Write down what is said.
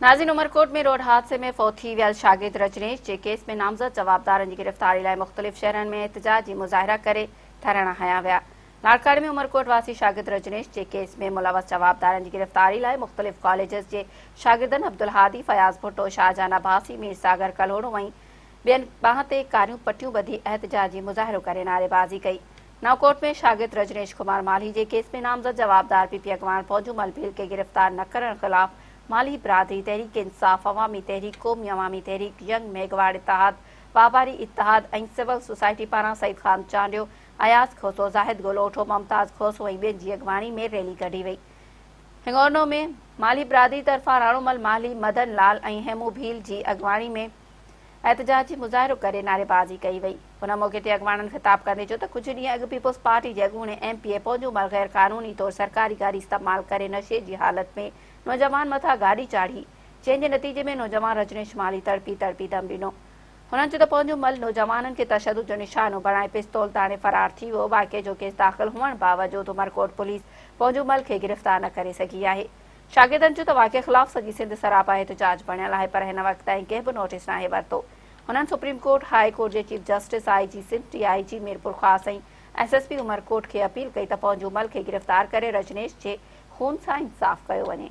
نازين Umerkot ۾ road حادثي ۾ فوت ٿي ويل شاگرد رجنيش جي ڪيس ۾ نامزد جوابدارن جي گرفتاري لاء مختلف شهرن ۾ احتجاج جي مظاهرا ڪري ڌرڻا هنيا ويا لاڙڪاڻي ۾ عمرڪوٽ واسي شاگرد رجنيش جي ڪيس ۾ ملوث جوابدارن جي گرفتاري لاء مختلف ڪاليجز جي شاگردن عبدالهادي فياض ڀٽو شاهجهان عباسي مير ساگر ڪلهوڙو ۽ ٻين ٻانهن تي ڪاريون پٽيون ٻڌي احتجاجي مظاهرو ڪري نعريبازي ڪئي نئونڪوٽ ۾ شاگرد رجنيش ڪمار مالهي جي ڪيس ۾ نامزد جوابدار پي پي اڳواڻ پونجومل ڀيل کي گرفتار نه ڪرڻ خلاف مالهي برادري، تحريڪ انصاف، عوامي تحريڪ، قومي عوامي تحريڪ، ينگ ميگھواڙ اتحاد، واپاري اتحاد ۽ سول سوسائٽي پاران سعيد خان چانڊيو، اياز کوسو، زاهد گولوٺو، ممتاز کوسو ۽ ٻين جي اڳواڻي ۾ ريلي ڪڍي وئي. هڱورنو ۾ مالهي برادري طرفان راڻومل مالهي، مدن لال ۽ هيمون ڀيل جي اڳواڻي ۾ احتجاج جي مظاهرو ڪري نعريبازي ڪئي وئي ان موقعي تي اڳواڻن خطاب ڪندي چيو ته ڪجهه ڏينهن اڳ پيپلز پارٽي جي اڳوڻي ايم پي اي پنهنجون عمر غير قانوني طور سرڪاري گاڏي استعمال ڪري نشي جي حالت ۾ نوجوان مٿان گاڏي چاڙهي جنهن جي نتيجي ۾ نوجوان رجنيش مالهي تڙپي تڙپي دم ڏنو هنن چيو ته پنهنجو مل نوجوانن کي تشدد جو نشانو بڻائي پستول تاڻي فرار ٿي ويو واقعي جو ڪيس داخل هئڻ باوجود عمرڪوٽ پوليس پنهنجو مل کي گرفتار نه ڪري سگهي آهي شاگردن جو ته واقعي خلاف سڄي سنڌ سراپا احتجاج بڻيل آهي پر هن وقت تائين ڪنهن به نوٽيس ناهي ورتو. هنن سپريم ڪورٽ، هاء ڪورٽ جي chief justice, I G Sindh, D I G Mirpurkhas ۽ S S P Umerkot کي اپيل ڪئي ته پونجو مل کي گرفتار ڪري رجنيش جي خون سان انصاف ڪيو وڃي.